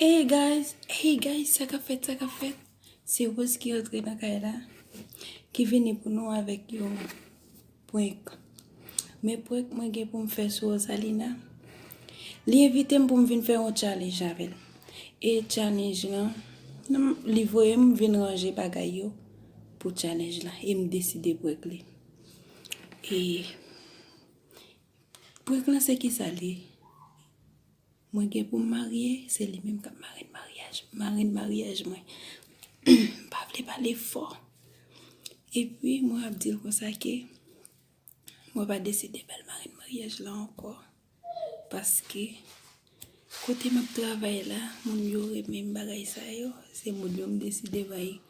Hey guys hey guys sa kap fèt sa kap fèt se Rose ki rantre nan kay la ki vini pou nou avèk yon prank men prank mwen gen pou m fè sou Rosalina li envite m pou m vin fè yon challenge avè l e challenge lan li voye m vin ranje bagay yo pou challenge la e m deside prank li e prank lan se kisa li ye. Mwen gen pou m marye, se li menm k ap marenn maryaj m. Marenn maryaj mwen. M pa vle pale fò. Epi, mwen ap di l konsa ke mwen pa deside ba l marenn maryaj la ankò. Paske, kote m ap travay la, moun yo renmen bagay sa yo. Se moun yo m deside bay marenn.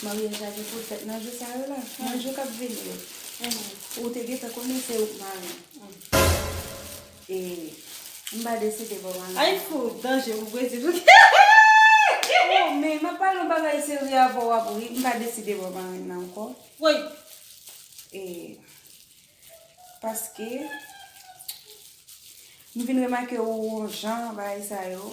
Maryaj la gen poul fèt nan jou sa yo la, nan jou kap vini yo. Ou te gentan konnen se ouk mari. E m pa deside baw anyen. Ay fou, danje pou Brezil pou kèèèèè. Oh men map pale yon bagay serye avèw wap ri, m pa deside baw marenn nan ankò. Woy! E paske m vin remake ou yon jan bagay sa yo.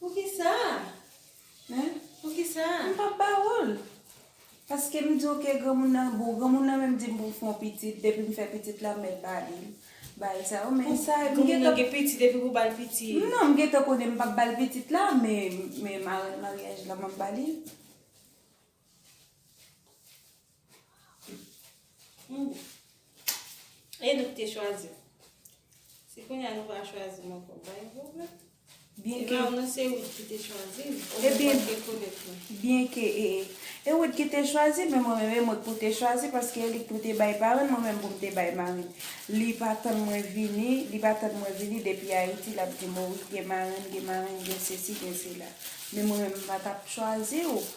Poukisa? Hein? Poukisa? M pap ba ou l. Paske m di w ke granmoun nan bon. Granmoun nan menm di m pou m fè yon pitit. Depi m fè pitit la m mèt ba li. Bay sa yo men sa yo m gen tan. Granmoun nan gen pitit epi pou ba l pitit. Non m gen tan konnen m pap ba l pitit la men men marèn maryaj la map ba li. E nou te chwazi. Se pou yon nou va chwazi mwen pou bay yon mwen. Byen ke... Eman, nou se wot ki te chwazi. E byen... E byen ke e... E wot ki te chwazi, men mwen mwen mwen pou te chwazi, paske e li pou te bay paran, mwen mwen mwen te bay maran. Li pa tan mwen vini, li pa tan mwen vini, depi a iti la pou di mwen, gen maran, gen maran, gen se si, gen se la. Men mwen mwen mwen pa ta chwazi ou.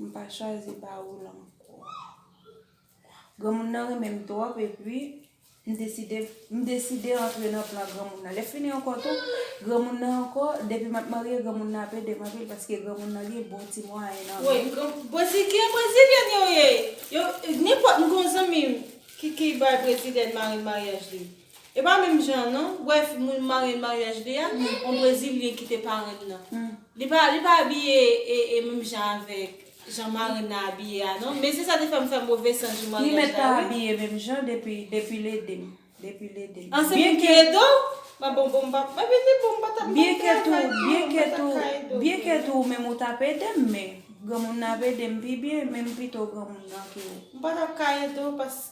M pa chwazi pa ou l ankò. Granmoun nan renmen m twòp epi m deside m deside antre nan plan granmoun nan. Lè fini ankò tou, granmoun nan ankò, depi m ap marye granmoun nan ap ede m anpil paske granmoun nan gen bon ti mwayen nan men l. Bozikè brezilyèn yo ye. Yo nenpòt m gen yon zanmi m ki ki bay brezilyèn mari maryaj li. E pa menm jan an non. Bref moun marye maryaj li a on brezilyen kite parenn nan. Li pa li pa abiye e menm jan avèk jan marenn nan abiye a non. Men se sa te fè m fè move sans jou maryaj la wi. Li mèt pa abiye menm jan depi depi l ede m. Depi l ede m. An se pou ki ede w? Mwen bon bon m pa mwen vin di bon m pa t ap m pa t travay non m pa t ap ka ede w. Byen ke tou ou menm ou t ap ede m men granmoun nan ap ede m pi byen men m pito granmoun nan ke ou. M pa t ap ka ede w paske.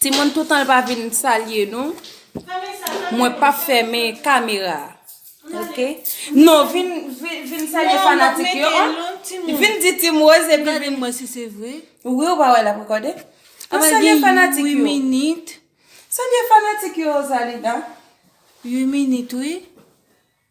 Timoun toutan l pa vin salye nou mwen pap fèmen kamera ok non vin salye fanatik yo an vin di ti moz epi vin gade mwen si se vre wi ou pa wè lap rekòde vin salye fanatik yo salye fanatik yo Rosalinda 8 minit wi.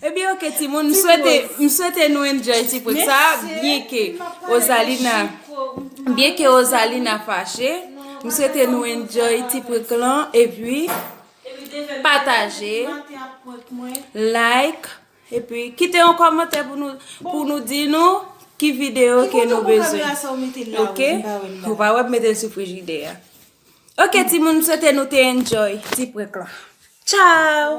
Ebyen ok timoun m swete m swete nou enjoy ti poz sa byen ke ozalina byen ke ozalina fache m swete nou enjoy ti prank lan epi pataje like epi kite yon komantè pou nou pou nou di nou ki video ke nou bezwen ok ou pa wè m mete l sou frijidè a ok timoun m swete nou te enjoy ti prank lan tchaww.